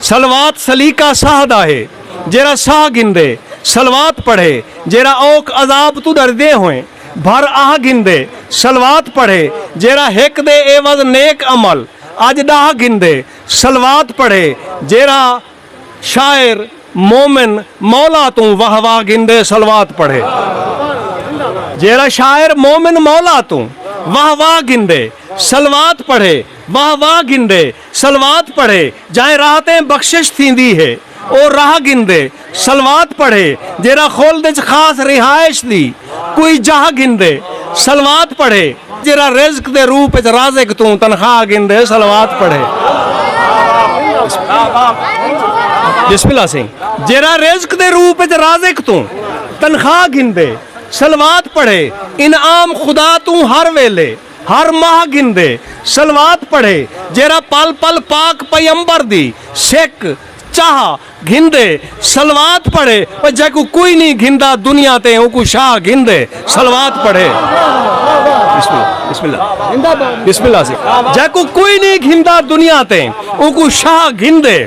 صلوات سلیقہ ساہ دا ہے، جیرھا ساہ گھندے، صلوات پڑھے، جیرھا اوکھ عذاب توں ݙردیں ہوئیں، بھر آہ گھندے، صلوات پڑھے، جیرھا ہک دے عیوض نیک عمل، اڄ ݙاہ گھندے، صلوات پڑھے، جیرھا، شاعر، مومن، مولا توں واہ واہ گھندے، صلوات پڑھے، جیرھا شاعر، مومن، مولا توں واہ واہ گھندے، صلوات پڑھے، واہ واہ گھندے، صلوات پڑھے جائیں راحتیں بخشش تھیندی ہے او راہ گھندے صلوات پڑھے جیرھا خلد اچ خاص رہائش دی کوئی جاہ گھندے صلوات پڑھے جیرھا رزق دے روپ اچ رازق توں تنخواہ گھندے صلوات پڑھے بسم اللہ سائیں جیرھا رزق دے روپ اچ رازق توں تنخواہ گھندے صلوات پڑھے انعام خدا توں ہر ویلے ہر ماہ گھندے، صلوات پڑھے، جیرھا پل پل پاک پیمبر دی، سک، چاہ، گھندے، صلوات پڑھے، او جیکوں کوئی نی گھندا دنیا تے اونکوں شاہ گھندے، صلوات پڑھے، بسم اللہ، بسم اللہ، بسم اللہ سے، جیکوں کوئی نی گھندا دنیا تے اونکوں شاہ گھندے،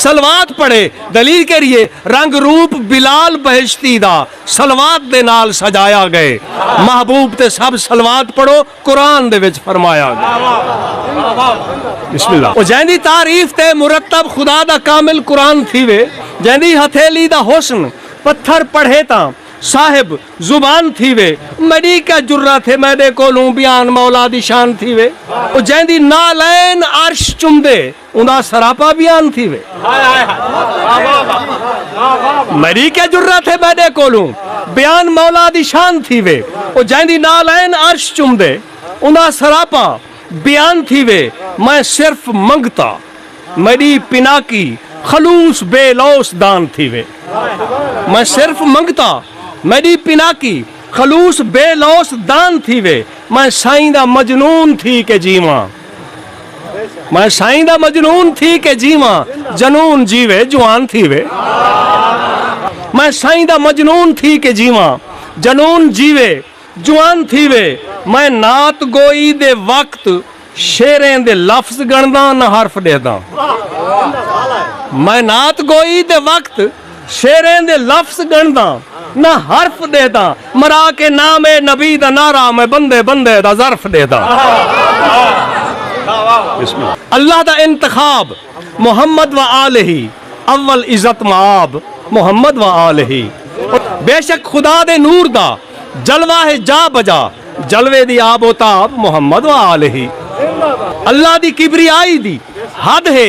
صلوات پڑھے، دلیل کیرھیے، رنگ روپ بلال بہشتی دا، صلوات دے نال سجایا گئے۔ محبوب تے سب صلوات پڑھو قرآن دے وچ فرمایا گئے۔ او جیندی تعریف تے مرتب خدا دا کامل قرآن تھیوے جیندی ہتھیلی دا حسن پتھر پڑھے تاں صاحب زبان تھیوے میڈی کیا جرات ہے میڈے کولوں بیان مولا دی شان تھیوے۔ او جیندی نعلین عرش چمدے۔ اوندا سراپا بیان تھیوے۔ میری کیا جرت ہے میڈے کولوں بیان مولا دی شان تھیوے۔ او جیندی نعلین عرش چمدے۔ اوندا سراپا بیان تھیوے۔ میں صرف منگتا میڈی پناکی خلوص بے لوث دان تھیوے۔ میں صرف منگتا میڈی پناکی خلوص بے لوث دان تھیوے۔ میں سائیں دا مجنون تھی کے جیواں۔ میں سائیں دا مجنون تھی کے جیواں جنون جیوے جوان تھیوے میں سائیں دا مجنون تھی کے جیواں جنون جیوے جوان تھیوے میں نعت گوئی دے وقت شعریں دے لفظ گنڑداں نہ حرف ڈیہداں میں نعت گوئی دے وقت شعریں دے لفظ گݨداں نہ حرف ݙیہداں مرا کے نام نبی دا نعرہ میں بندے بندے دا ظرف ݙیہداں۔ اللہ دا انتخاب محمد و آلہ اول عزت مآب محمد و آلہ بے شک خدا دے نور دا جلوہ ہے جا بجا جلوے دی آب و تاب محمد و آلہ اللہ دی کبریائی دی حد ہے